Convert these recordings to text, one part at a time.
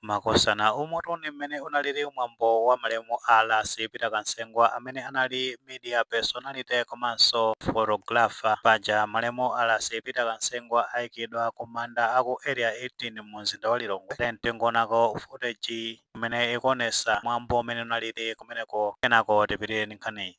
Makosana umutu ndi mmene unalili mwambo wa malemu a Ras Peter Kansengwa amene anali media personality komanso photographer. Paja malemu a Ras Peter Kansengwa aikidwa ku manda a ku Area 18 mu mzinda wa Lilongwe then tingoonako footage imene ikuonesa mwambo mmene unalili kumeneko kenako tipitire ndi nkhaniyi.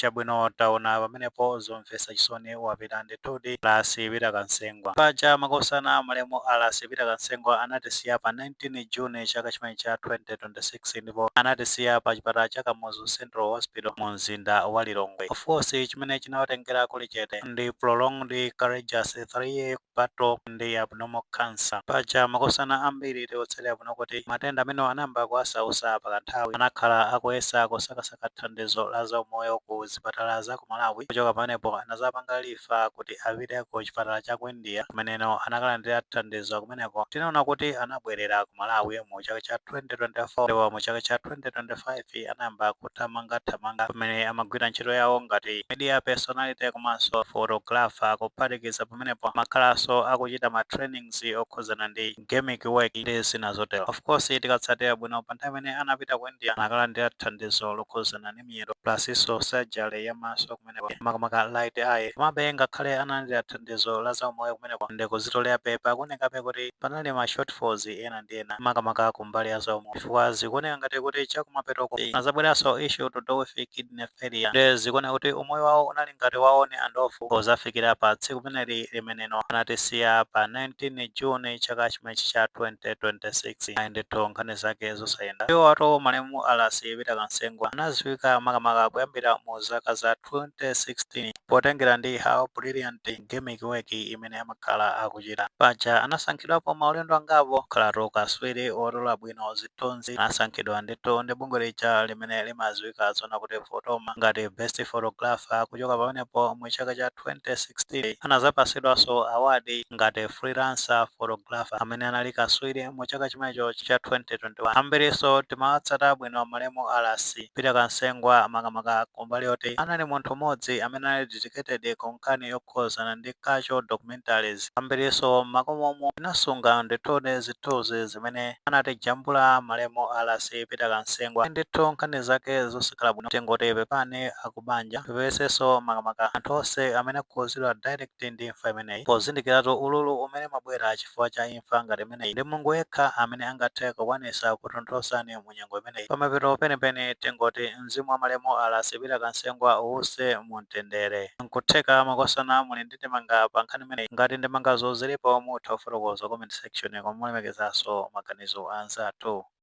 chabwino taona pamenepo zomvetsa chisoni wapita ndithudi a Ras Peter Kansengwa paja makosana malemu a Ras Peter Kansengwa anatisiya pa 19 june chaka chimene cha 2020 6 ndipo anatisiya pa chipatala cha Kamuzu Central Hospital mu mzinda wa Lilongwe. Of course chimene chinawatengera kuli chete ndi prolonged courageous three year battle ndi abnormal cancer. Paja makosana ambiri tikutsatira bwino kuti matenda amenewa anayamba kuwasausa pa kanthawi. Anakhala akuyesa kusakasaka thandizo la za umoyo ku zipatala za ku Malawi, kuchoka pamenepo anazapanga refer kuti apite ku chipatala cha ku India kumeneno anakalandira thandizo. kumeneko. Tinaona kuti anabwerera ku Malawi mu chaka cha 2024 ndipo mu chaka cha 2025 anayamba kuthamangathamanga pamene amagwira ntchito yawo ngati media personality komanso photographer. Kuphatikiza pamenepo amakhalanso akuchita ma trainings okhudzana ndi gimmick work ndi zina zotero. Of course tikatsatira bwino pa nthawi imene anapita ku India anakalandira thandizo lokhudzana ndi miyendo plusnso surgery ya maso kumeneko makamaka right eye komabe ngakhale analandira thandizo la zaumoyo kumeneko ndi kuzitolerabe pakuonekabe kuti panali ma shortfalls ena ndi ena makamaka ku mbali ya zaumoyo chifukwa zikuoneka ngati kuti chakumapetoko azabweranso issue to do with kidney failure ndiye zikuoneka kuti umoyo wawo unali ngati wa on and off pozafikira pa tsiku limeneli limeneno anatisiya pa 19 june chaka chimene chimenechi cha 2026 ayi ndithu nkhani zake zosayenda. Iwowatu malemu a Ras Peter Kansengwa anaziwika makamaka kuyambira mu zaka za 2016 potengera ndi how brilliant gimmick work imene amakhala akuchita. Paja anasankhidwapo maulendo angapo kukhalatu kaswiri wotola bwino zi thunzi anasankhidwa ndithu ndi bungwe lija limene limadziwika zona kuti Photama ngati Best Photographer, kuchoka pamenepo mu chaka cha 2016 anadzapasidwanso award ngati Freelancer Photographer amene anali kaswiri mu chaka chimenecho cha 2021. Ambirinso timawatsata bwino malemu a Ras Peter Kansengwa makamaka kumbali yoti anali munthu mmodzi amene anali dedicated ku nkhani yokhuzana ndi cultural documentary. Documentaries ambiriso mmakomomu tinasunga ndithu zithunzi zimene anatijambula malemu RC Peter Kansengwa ndithu nkhani zake zosakhala bwino tingoti pepani akubanja tipepeseso makamaka anthu onse amene akukhuzidwa direct ndi imfa imeneyi pozindikiratu ululu umene umabwera chifukwa cha imfa ngati imeneyi ndi Mulungu yekha amene angathe kukwanisa kukutonthozani mu nyengo imeneyi pamapeto penipeni tingoti mzimu wa malemu RC Peter Kansengwa uwuse mu mtendere nkutheka makosana muli ndi ndi ndemanga pa nkhani imeneyi. Ngati ndemangazo zilipo mutha kufotokoza comment section koma mulemekezenso maganizo a anzathu.